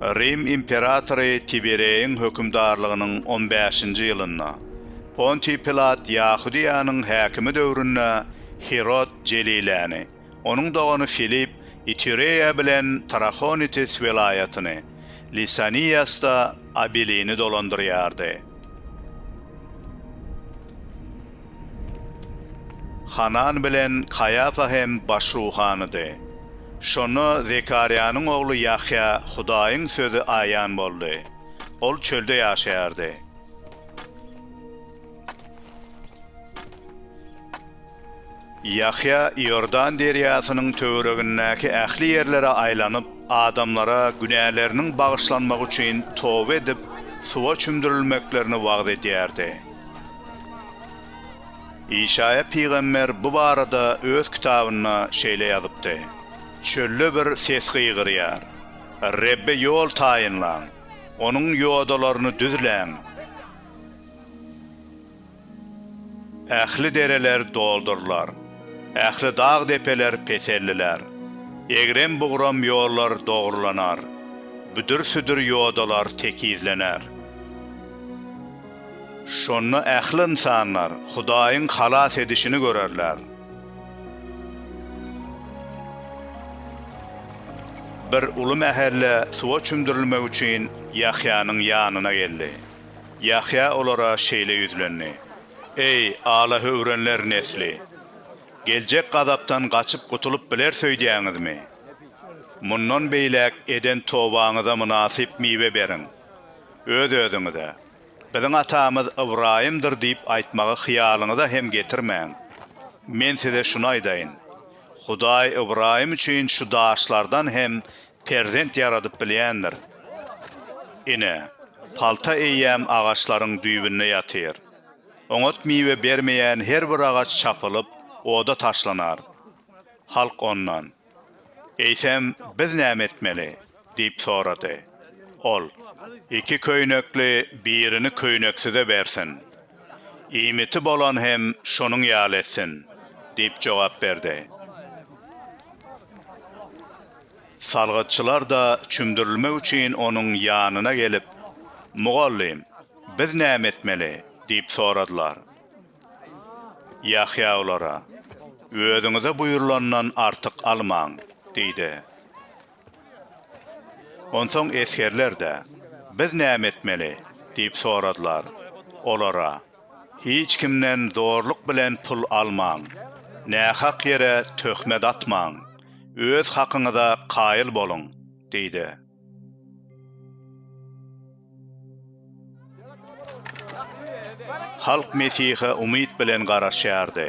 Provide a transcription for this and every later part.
Rim imperatory Tibereýiň hökümdarlygynyň on bäşinji ýylynda, Pontiý Pilat Ýahudyýanyň häkimi döwründe Hirod Jeliläni, Onuň dogany Filipp Itureýa bilen Trahonitis welaýatyny, Lisaniýasda Abilini dolandyrýardy. Hanan bilen Kaýafa hem baş ruhanydy. Şonda Zekarýanyň ogly Ýahýa Hudaýyň sözi aýan boldy. Ol çölde ýaşaýardy. Ýahýa Iordan derýasynyň töweregindäki ähli ýerlere aýlanyp, adamlara günäleriniň bagyşlanmagy üçin toba edip, suwa çümdürilmeklerini wagyz edýärdi. Işaýa pygamber bu barada öz kitabynda şeýle ýazypdy, Çölde bir ses gygyrýar, Rebbe ýol taýynlaň! Onuň ýodalaryny düzläň! Ähli dereler doldurylar. Ähli dag-depeler peselliler. Egrem-bugram ýollar dogrulanar. Büdür-südür ýodalar tekizlener. Şonda ähli ynsanlar Hudaýyň halas edişini görerler. Bir uly mähelle suwa çümdürilmek üçin Ýahýanyň ýanyna geldi. Ýahýa olara şeýle ýüzlendi, Eý, alahöwrenler nesli! Geljek gazapdan gaçyp gutulyp bileris öýdýäňizmi? Mundan beýläk eden tobaňyza mynasyp miwe beriň. Öz-özüňize, Biziň atamyz Ybraýymdyr diýip aýtmagy hyýalyňyza hem getirmäň. Men size şuny aýdaýyn, Hudaý Ybraýym üçin şu daşlardan hem Perzent ýaradyp bilýändir. Ine, palta eýýäm agaçlaryň düýbünde ýatyr. Oňat miwe bermeýän her bir agaç çapylyp, oda taşlanar. Halk ondan, Eýsem, biz näme etmeli? diýip sorady. Ol, Iki köýnekli birini köýneksize bersin. Iýmiti bolan hem şonuň ýaly etsin, diýip jogap berdi. Salgytçylar-da çümdürilmek üçin onuň ýanyna gelip, Mugallym, biz näme etmeli? diýip soradylar. Ýahýa olara, Özüňize buýrulandan artyk almaň! diýdi. Onsoň esgerler-de, Biz näme etmeli? diýip soradylar. Olara. Hiç kimden zorluk bilen pul almaň. Nähak ýere töhmet atmaň. Öz hakyňyza kaýyl boluň, diýdi. Halk Mesihe umyt bilen garaşýardy.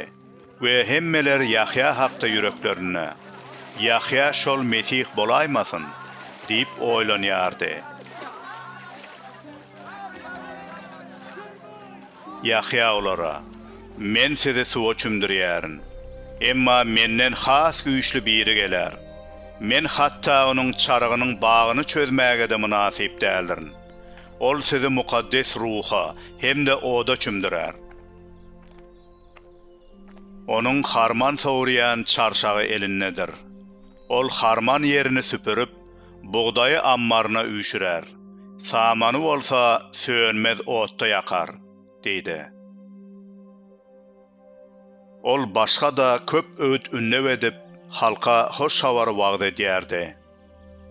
We hemmeler Ýahýa hakda ýüreklerinde, Ýahýa şol Mesih bolaýmasyn? diýip oýlanýardy. Ýahýa olara, Men sizi suwa çümdürýärin. Emma Menden has güýçli biri geler. Men hatda Onuň çarygynyň bagyny çözmäge-de mynasyp däldirin. Ol sizi Mukaddes Ruha hem-de oda çümdürer. Onuň harman sowurýan çarşagy elindedir. Ol harman ýerini süpürip, bugdaýy ammaryna üýşürär, samany bolsa sönmez otda ýakar, diýdi. Ol başga-da köp öwüt-ündew edip, halka hoş habary wagyz edýärdi.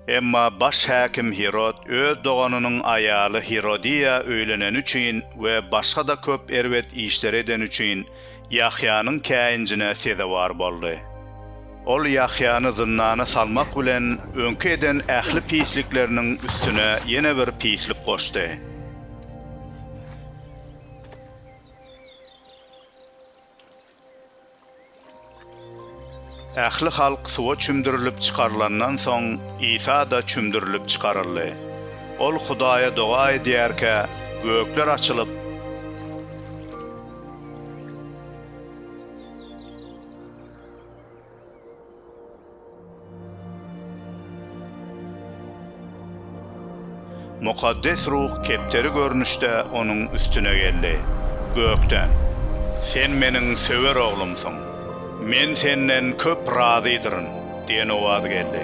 Emma baş häkim Hirod öz doganynyň aýaly Hirodiýa öýleneni üçin we başga-da köp erbet işleri edeni üçin Ýahýanyň käýinjine sezewar boldy. Ol Ýahýany zyndana salmak bilen, öňki eden ähli pislikleriniň üstüne ýene bir pislik goşdy. Ähli halk suwa çümdürilip çykarylandan soň, Isa-da çümdürilip çykaryldy. Ol Hudaýa doga edýärkä, gökler açylyp, Mukaddes Ruh kepderi görnüşde onuň üstüne geldi. Gökden, Sen Meniň söwer Oglumsyň. Men Senden köp razydyryn diýen owaz geldi.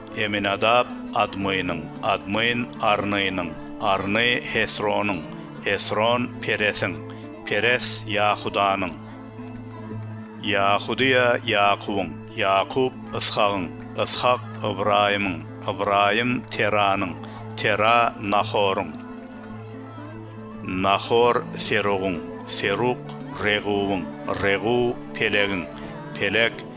Eminadap, Admynyň, Admyn, Arnynyň, Arny, Hesronyň, Hesron, Peresiň, Peres, Ýahudanyň, Ýahudyýa, Ýakubyň, Ýakup, Yshagyň, Yshak, Ybraýymyň, Ybraýym, Teranyň, Tera, Nahoryň, Nahor, Serugyň, Seruk, Reguwyň, Reguw, Pelegiň, Peleg,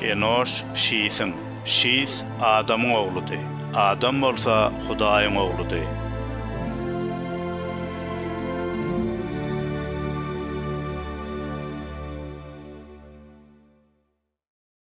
Enoş Şisiň, Şis Adamyň ogludy, Adam bolsa Hudaýyň ogludy.